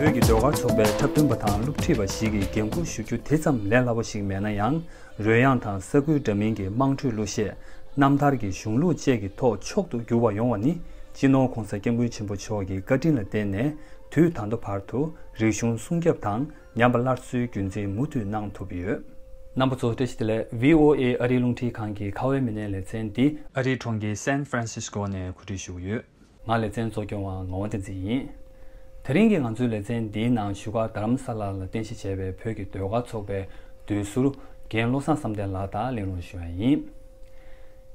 བོད་ཀྱི་ཟློས་གར་ཚོགས་པའི་འཁྲབ་སྟོན་པ་དང་སློབ་ཁྲིད་པ་ཞིག་གིས་འགན་འཁུར་ཞུ་རྒྱུ་དེ་ཙམ་ལས་སླ་པོ་ཞིག་མེད་ན་ཡང་རོལ་དབྱངས་དང་ས་ཁུལ་འདྲ་མིན་གྱི་དམངས་ཁྲོད་གླུ་གཞས། རྣམ་ཐར་གྱི་གཞུང་ལུགས་བཅས་ཀྱི་ཐོག་མཆོག་ཏུ་གྱུར་བ་ཡོང་བ་ནི་སྤྱི་ནོར ྋགོང་ས ྋསྐྱབས་མགོན་ཆེན་པོ་མཆོག་གི་བཀའ་དྲིན་ལ་བརྟེན་ནས་དུས་ད་ལྟ་བར་དུ་རིག་གཞུང་སྲུང་སྐྱབས་དང། ཉམས་པ་སླར་གསོའི་རྒྱུན་འཛིན་མུ་མཐུད་གནང་ཐུབ་ཡོད། རྣམ་པ་ཚོ་བཀྲ་ཤིས་བདེ་ལེགས VOA ཨ་རིའི་རླུང་འཕྲིན་ཁང་གི་ཁ་བའི་མི་སྣའི་ལེ་ཚན་འདི། ཨ་རིའི་གྲོང་ཁྱེར San Francisco ནས་གོ་སྒྲིག་ཞུ་གི་ཡོད། ང་ལེ་ཚན་གཙོ་སྐྱོང་བ་ངག་དབང་བསྟན་འཛིན་ཡིན། དེ་རིང་གི་ང་ཚོའི་ལེ་ཚན་འདིའི་ནང་བཞུགས་སྒར་རྡ་རམ་ས་ལ་ལ་རྟེན་གཞི་བྱས་པའི་བོད་ཀྱི་ཟློས་གར་ཚོགས་པའི་ཟློས་ཟུར་རྒན་བློ་བཟང་བསམ་གཏན་ལགས་དང་གླེང་སློང་ཞུ་ཡ་ཡིན།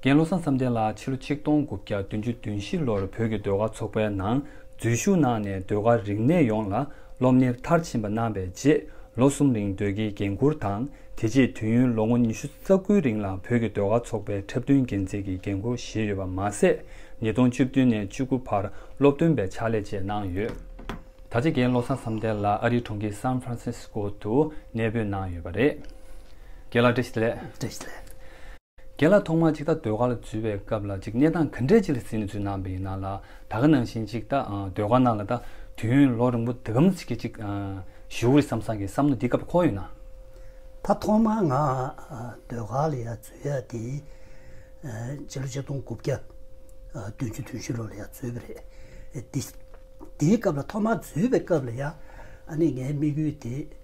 རྒན་བློ་བཟང་བསམ་གཏན་ལགས་ཕྱི་ལོ་ཆིག་སྟོང་དགུ་བརྒྱ་བདུན་ཅུ་བདུན་བཞི་ལོར་བོད་ཀྱི་ཟློས་གར་ཚོགས་པའི་ནང་འཛུལ་ཞུགས་གནང་ནས་ཟློས་གར་རིག་གནས་ཡོངས་ལ་སློབ་གཉེར་མཐར་ཕྱིན་པ་གནང་བའི་རྗེས་ལོ་གསུམ་རིང་སྡོད་ཀྱི་འགན་ཁུར་དང་དེ་རྗེས་དུས་ཡུན་ལོ་ངོ་ཉི་ཤུ་རྩ་དགུའི་རིང་ལ་བོད་ཀྱི་ཟློས་གར་ཚོགས་པའི་འཁྲབ་སྟོན་འགན་འཛིན་གྱི་འགན་ཁུར་བཞེས་ཡོད་པ་མ་ཟད་ཉིས་སྟོང་བཅུ་བདུན་ནས་བཅུ་དགུ་བར་སློབ་སྟོན་པའི་ཕྱག་ལས་བཅས་གནང་ཡོད། ད་ཆ་དགེ་བློ་བཟང་བསམ་གཏན་ལགས་ཨ་རིའི་གྲོང་ཁྱེར San Francisco དུ་གནས་སྤོས་གནང་ཡོད་པ་རེད། དགེ་ལགས་བཀྲ་ཤིས་ལེགས། བཀྲ་ཤིས་ལེགས། རྒན་ལགས་ཐོག་མར་ཅིག་ད་ཟློས་གར་ལ་འཛུལ་བའི་སྐབས་ལ་ཅིག་གནས་སྟངས་ག་འདྲས་ཅིག་ལ་ཟིན་ནས་འཛུལ་གནང་བ་ཡིན་ནའང་ལ་ད་ག་ནང་བཞིན་ཅིག་ད་ཟློས་གར་ནང་ལ་ད་དུས་ཡུན་ལོ་རིང་པོ་འདི་གམ་ཚིག་གི་ཅིག་བཞུགས་རེད་བསམ་བསམ་གི་བསམ་མནོ་འདི་སྐབས་འཁོར་ཡོད་ན། ད་ཐོག་མར་ང་ཟློས་གར་ལ་ཡ་འཛུལ་ཡ་དེ་རྗེས་ལོ་ཆིག་སྟོང་དགུ་བརྒྱ་བདུན་ཅུ་དུང་ཕྱི་ལོ་ལ་ཡ་འཛུལ་བ་རེད་དེ་དེའི་སྐབས་ལ་ཐོག་མར་འཛུལ་བའི་སྐབས་ལ་ཡ་ཨ་ནི་ངའི་དམིགས་ཡུལ་དེ།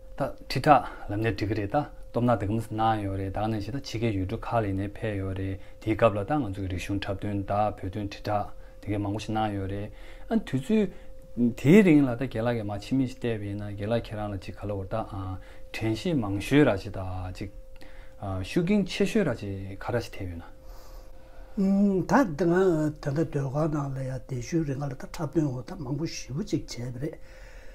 ད་ཁྲི་ཕྲག་ལམ་ནས་འགྲིག་གི་རེད་ད་སྟོབས་ན་དེ་ག་མི་སྲིད་གནང་ཡོད་རེད་ད་གནས་བྱས་ད་ཕྱི་གའི་ཡུལ་གྲུ་ཁག་ལས་ནས་ཕེབས་ཡོད་རེད་དེའི་སྐབས་ལ་ད་ང་ཚོ་གི་རིག་གཞུང་འཁྲབ་སྟོན་ད་བོད་དོན་ཁྲི་ཕྲག་དེ་གའི་མང་པོ་ཞིག་གནང་ཡོད་རེད་ཨ་དུས་ཚོད་དེའི་རིང་ལ་ད་དགེ་ལགས་ཀྱི་མ་ཕྱི་མི་ཞིག་བལྟས་པ་ཡིན་ན་དགེ་ལགས་ཁྱེད་རང་ལ་ཅིག་ག་ལ་བོར་ད་དྲན་ཤེས་མང་ཤོས་ར་ཅིག་ད་ཅིག་ཤུགས་རྐྱེན་ཆེ་ཤོས་ར་ཅིག་ག་ར་ཅིག་ཐེབས་ཡོད་ན། ད་དེ་ང་དེ་གའི་སྡོད་ཁང་ནང་ལ་ཡང་དེ་བཞུན་རེ་ང་ལ་ད་འཁྲབ་སྟོན་འོག་ད་མང་པོ་ཞིབ་པོ་ཅིག་བྱས་པ་རེད།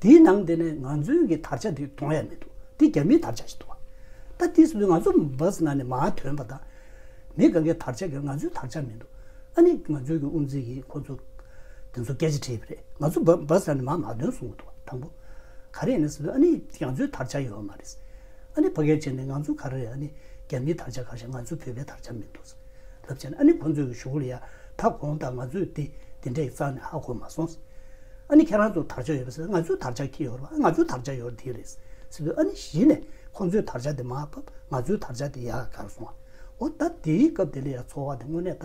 དེའི་ནང་དེ་ནས་ང་ཚོའི་གི་དར་ཆ་དེ་མཐོང་ཡ་མི་འདུག་དེ་རྒྱ་མིའི་དར་ཆ་ཞིག་འདུག་བ། ད་དེ་སུ་ང་ཚོ་བོས་ན་ནི་མ་ཐོན་པ་ད། མི་ག་གི་དར་ཆ་གི་ང་ཚོའི་དར་ཆ་མི་འདུག་ཨ་ནི་ང་ཚོའི་གི་དབུ་མཛད་གི་ཁོ་ཚོ་དེ་ཚོ་སྐད་ཆ་དྲིས་པ་རེད་ང་ཚོ་བོས་ན་ནི་མ་མ་ཐོན་སོང་གི་འདུག་བ་དང་པོ། ག་རེ་ཡིན་ན་སུ་ཨ་ནི་ང་ཚོའི་དར་ཆ་ཡོད་མ་རེད། ཨ་ནི་བ་གལ་ཆེ་ནི་ང་ཚོ་ག་རེ་རེད་ཨ་ནི་རྒྱ་མིའི་དར་ཆ་ག་ཞིག་ང་ཚོའི་བོད་པའི་དར་ཆ་མི་འདུག། ལབ་བྱས་ན་ཨ་ནི་ཁོང་ཚོའི་གཞུག་གུ་ལ་ཡག་ད་གོང་ད་ང་ཚོས་དེ་དེ་འདྲ་ཡི་རྩ་ནས་ཧ་གོ་མ་སོང་ཟེར་ཨ་ནི་ཁྱེད་རང་ཚོ་དར་ཆ་ཡོད་པ་ཟེར་ང་ཚོའི་དར་ཆ་ཁྱེད་ཡོད་རེད་ང་ཚོའི་དར་ཆ་ཡོད་དེ་རེད་ཟེར་དུས་ཨ་ནི་གཞི་ནས་ཁོང་ཚོའི་དར་ཆ་དེ་མ་བབ་ང་ཚོའི་དར་ཆ་དེ་ཡག་གར་སོང་བ་འོ་ད་དེའི་སྐབས་དེ་ལ་ཡག་འཚོ་བ་དེ་དངོས་གནས་ད་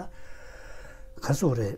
གར་སོང་བ་རེད།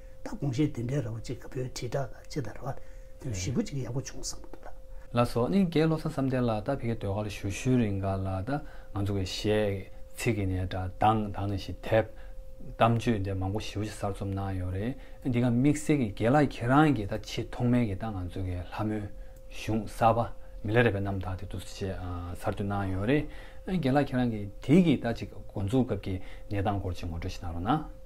ད་དགོངས་བཞེས་དེ་འདྲའི་ར་བ་གཅིག་གི་བོད་དྲིལ་བསྒྲགས་ལ་ཅི་ད་ར་བ་དེ་བཞི་པོ་གཅིག་ཡག་པོ་བྱུང་བསམ་འདུག་ལགས། ལ་སོགས་གཉིས་ཀའི་བློ་བཟང་བསམ་གཏན་ལགས་ད་ཕི་གའི་ཟློས་གར་ལ་ཞུ་ཞུ་རིང་ག་ལ་ད་ང་ཚོ་གི་གཞས་ཚིག་གི་ནས་དྲ་དང་དང་ནས་ཞིག་དེབ་གཏམ་བརྗོད་འདི་མང་པོ་ཞིབ་ཕྱི་གསར་རྩོམ་གནང་ཡོད་རེད་འདི་ག་དམིགས་བསལ་གི་དགེ་ལགས་ཁྱེད་རང་གི་ད་ཆེས་ཐོག་མའི་གི་ད་ང་ཚོ་གི་ལྷ་མོའི་གཞུང་གསར་པ་མི་ལ་རས་པའི་རྣམ་ཐག་དེ་དུ་ཆེས་གསར་རྩོད་གནང་ཡོད་རེད་དགེ་ལགས་ཁྱེད་རང་གི་དེའི་གི་ད་ཅིག་འགོ་འཛུགས་སྐབས་གི་གནས་སྟངས་སྐོར་ཅིག་ངོ་སྤྲོད་ཞིག་གནང་རོགས་གནང།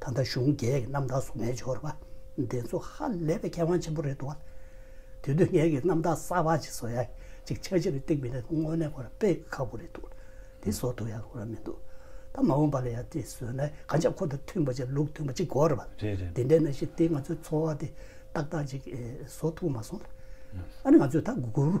ད་ལྟ་གཞུང་རྒྱལ་གྱི་རྣམ་དག་སོགས་ངས་འབྱོར་བ་འདི་ཚོ་ཧ་ལས་པའི་མཁས་དབང་ཆེན་པོ་རེད་འདུག་བ། དེ་དུས་ངས་ཀྱི་རྣམ་དག་གསར་བ་ཅིག་བཟོ་ཡ་ཅིག་ཆ་གཞི་རེ་ཏིག་མི་ལེགས་དངོས་གནས་ཁོ་ར་དཔེ་ཁ་པོ་རེད་འདུག་དེ་བཟོ་ཐུབ་ཡ་ཁོ་ར་མི་འདུག་ད་མ་འོངས་པ་ལ་ཡ་དེ་བཟོས་ན་གང་ཅག་ཁོ་དང་མཐུན་པ་ཅིག་ལུགས་མཐུན་པ་ཅིག་དགོས་རེད་བ། དེ་འདྲའི་ན་ཞིག་དེ་ང་ཚོའི་འཚོ་བ་དེ་ཏག་ཏག་ཅིག་བཟོ་ཐུབ་མ་སོང། ཨ་ནི་ང་ཚོས་ད་གུ་རུ།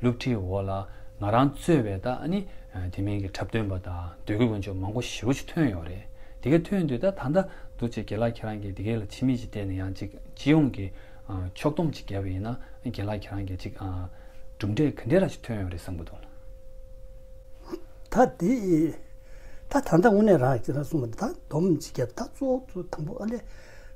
སློབ་ཁྲིད་འོག་ལ་ང་རང་གཙོས་བའི་ད་ནི་དེ་མིན་གྱི་འཁྲབ་སྟོན་པ་དང་ཟློས་གུས་དཀོན་མཆོག་མང་པོ་ཞེ་བོ་ཅིག་ཐོན་ཡོད་རེད། དེ་གས་ཐོན་དུས་ད་ད་འདྲ་འདུག་ཅེས་དགེ་ལགས་ཁྱེད་རང་གིས་དེ་གས་ལ་ཕྱི་མིག་ཅིག་བལྟས་ནས་ཡང་ཅིག་སྤྱི་ཡོངས་ཀྱི་ཕྱོགས་སྡོམ་ཅིག་བརྒྱབ་པ་ཡིན་ན་དགེ་ལགས་ཁྱེད་རང་གིས་ཅིག་གྲུབ་འབྲས་ག་འདྲས་ར་ཅིག་ཐོན་ཡོད་རེད་བསམ་གྱི་འདུག། ད་དེ་ད་ད་ལྟ་དངོས་གནས་རང་གིས་ཁྱེད་རང་གསུངས་པ་འདི་དག་སྡོམ་ཅིག་བརྒྱབ་ད་གཙོ་བོ་དང་པོ་ཨ་ལས།